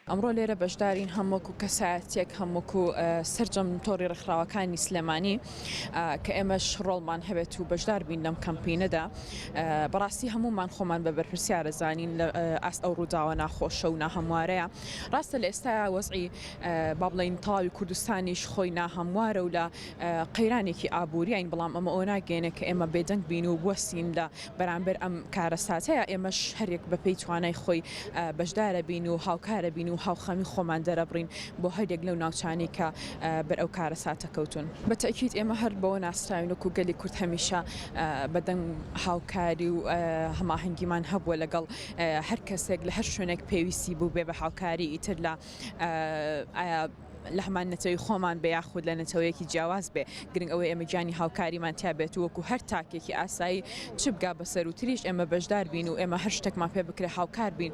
ئەمڕۆ لێرە بەشدارین هەم وەکو کەسایەتێک هەم وەکو سرجەم تۆری ڕخراوەکانی سلێمانی کە ئێمەش ڕۆڵمان هەبێت و بەشدار بین لەم کەمپینەدا بەڕاستی هەمومان خۆمان بە بەرپرسیارە زانین لە ئاست ئەو ڕووداوە ناخۆشە و ناهموارەیە ڕاستە لە ئێستا وەزعی با بڵین تەواوی کوردستانیش خۆی ناهموارە و لە قەیرانێکی ئابووریین، بەڵام ئەمە ئەوە ناگەیەنێت کە ئێمە بێدەنگ بین و بوەستین لە بەرامبەر ئەم کارەساتەیە، ئێمەش هەریەک بەپێی توانای خۆی بەشدارە بین و هاوکارە بین و هاوخەمی خۆمان دەرەبڕین بۆ هەریەک لەو ناوچانەی کە بەر ئەو کارەساتە کەوتوون. بە تەئکید ئێمە هەر بەوە ناسراوین وەکو گەلی کورد هەمیشە بەدەنگ هاوکاری و هەماهەنگیمان هەبووە لەگەڵ هەر کەسێک لە هەر شوێنێک پێویستی بووبێ بە هاوکاری ئیتر لە لەهەمان نەتەوەی خۆمان بێ یاخود لە نەتەوەیەکی جیاواز بێ گرنگ ئەوەی ئێمە گیانی هاوکاریمان تیا بێت و وەکو هەر تاکێکی ئاسایی چ بگا بە سەرو تریش ئێمە بەشدار بین و ئێمە هەر شتێکمان پێ بکرێ هاوکار بین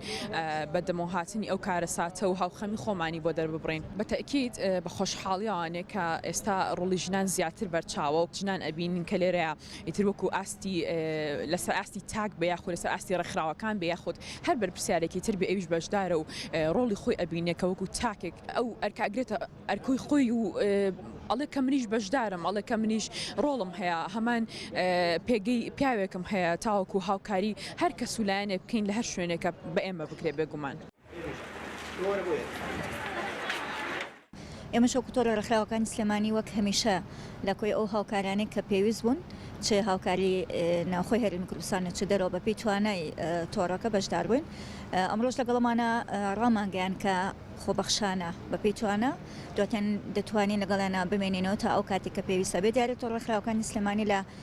بە دەمەوە هاتنی ئەو کارەساتە و هاوخەمی خۆمانی بۆ دەرببڕین بە تەئکید بە خۆشحاڵیەوانێ کە ئێستا ڕۆڵی ژنان زیاتر بەرچاوە و ژنان ئەبینین کە لێرەیە ئیتر وەکو ئاستی لەسەر ئاستی تاک بێ یاخود لەسەر ئاستی ڕێکخراوەکان بێ یاخود هەر بەرپسیارێکی تر بێ ئەویش بەشدارە و ڕۆڵی خۆی ئەبینێ کە وەکو تاکێک ئەو ئەرکاگرێتە ئەرکۆی خۆی و ئەڵێ کە منیش بەشدارم ئەڵێ کە منیش ڕۆڵم هەیە هەمان پێگەی پیاوێکم هەیە تاوەکو هاوکاری هەر کەس و لایەنێ بکەین لە هەر شوێنێکە بە ئێمە بکرێ بێگومان. ئێمەش وەکو تۆڕە ڕێکخراوەکانی سلێمانی وەک هەمیشە لە کۆی ئەو هاوکارانەی کە پێویست بوون چ هاوکاری ناوخۆی هەرێمی کوردستانە چ دەرەوە بەپی توانای تۆڕەکە بەشدار بووین ئەمڕۆژ لەگەڵمانە ڕامانگەیان کە خۆبەخشانە بەپی توانە دواتیان دەتوانین لەگەڵیانە بمێنینەوە تا ئەو کاتێک کە پێویستە بێ دیارێت تۆڕە خراوەکانی سلێمانی لە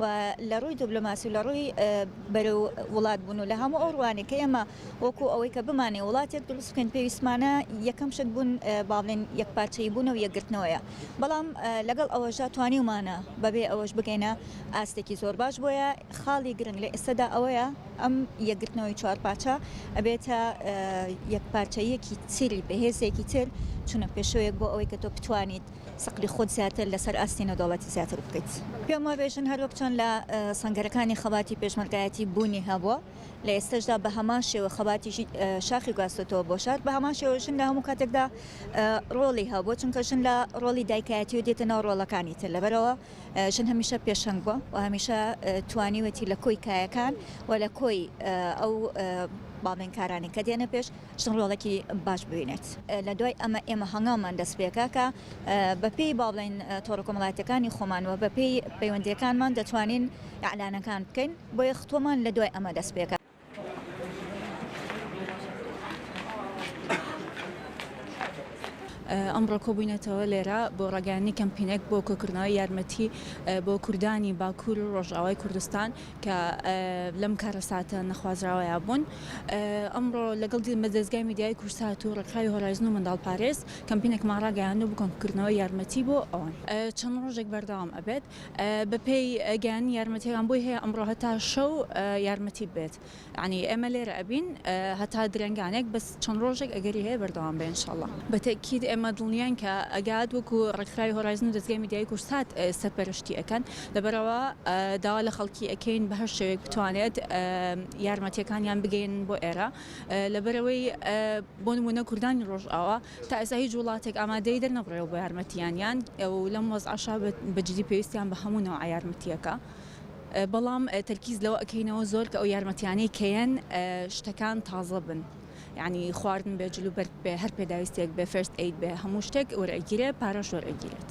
و لە ڕووی دبلۆماسی و لە ڕووی بەرەو وڵات بوون و لە هەموو ئەو ڕوانێک کە ئێمە وەکوو ئەوەی کە بمانەوێت وڵاتێک دروست بکەین پێویستمانە یەکەم شت بوون با بڵێن یەکپارچەیی بوون و یەکگرتنەوەیە بەڵام لەگەڵ ئەوەشدا توانیومانە بەبێ ئەوەش بگەینە ئاستێکی زۆر باش بۆیە خاڵی گرنگ لە ئێستەدا ئەوەیە ئەم یەکگرتنەوەی چوارپارچە ئەبێتە یەکپارچەییەکی تری بەهێزێکی تر چونە پێشەوەیەک بۆ ئەوەی کە تۆ بتوانیت سقلی خۆت زیاتر لەسەر ئاستی نێودەوڵەتی زیاتر بکەیت. پێم وا بێژن هەروەک چۆن لە سەنگەرەکانی خەباتی پێشمەرگایەتی بوونی هەبووە لە ئێستەشدا بە هەمان شێوە خەباتی ژن شاخی گواستۆتەوە بۆ شار بە هەمان شێوە ژن لە هەموو کاتێکدا ڕۆڵی هەبووە چونکە ژن لە ڕۆڵی دایکایەتیەوە دێتە ناو ڕۆڵەکانی تر لەبەرئەوە ژن هەمیشە پێشەنگ بووە و هەمیشە توانیوێتی لە کۆی کایەکان و لە کۆی ئەو باڵێنکارانەی کە دێنە پێش چ ڕۆڵێکی باش ببینێت. لە دوای ئەمە ئێمە هەنگاومان دەست پێکا کە بە پێی با بڵێین تۆڕە کۆمەڵایەتیەکانی خۆمان وە بە پێی پەیوەندیەکانمان دەتوانین ئیعلانەکان بکەین بۆیە ختۆمان لە دوای ئەمە دەست پێکا. ئەمڕۆ کۆبووینەتەوە لێرە بۆ ڕاگەیاندنی کەمپینێک بۆ کۆکردنەوەی یارمەتی بۆ کوردانی باکوور و ڕۆژئاوای کوردستان کە لەم کارەساتە نەخوازراوەیا بوون ئەمڕۆ لەگەڵ دیمە دەستگای میدیای کورسات و ڕێکخراوی هۆرایزن و منداڵ پارێز کەمپینێکمان ڕاگەیاند و بکۆنکردنەوە یارمەتی بۆ ئەوان چەند ڕۆژێک بەردەوام ئەبێت بەپێی گەیانی یارمەتیەکان بۆی هەیە ئەمڕۆ هەتا شەو یارمەتی بێت. یەعنی ئێمە لێرە ئەبین هەتا درەنگانێک بەس چەند ڕۆژێک ئەگەری هەیە بەردەوام بێ انشاللە. بە تەئکید ئێمە دڵنیاین کە ئەگات وەکو ڕێکخراوی هۆرایزن و دەزگای میدیایی کوردسات سەرپەرشتی ئەکەن لەبەرئەوە داوا لە خەڵکی ئەکەین بە هەر شێوەیەک بتوانێت یارمەتیەکانیان بگەیەنن بۆ ئێرە لەبەرئەوەی بۆ نمونە کوردانی ڕۆژئاوا تا ئێستا هیچ وڵاتێک ئامادەی دەرنەبڕیوە بۆ یارمەتیانیان و لەم وەزعەشا بە جدی پێویستیان بە هەموو نەوعە یارمەتیەکە بەڵام تەرکیز لەوە ئەکەینەوە زۆر کە ئەو یارمەتیانەی کەیەن شتەکان تازە بن یعنی خواردن بێ جلو بەرگ بێ هەر پێداویستێک بێ فێرست ئەید بێ هەموو شتێک وەرئەگیرێ پارەش وەرئەگیرێت.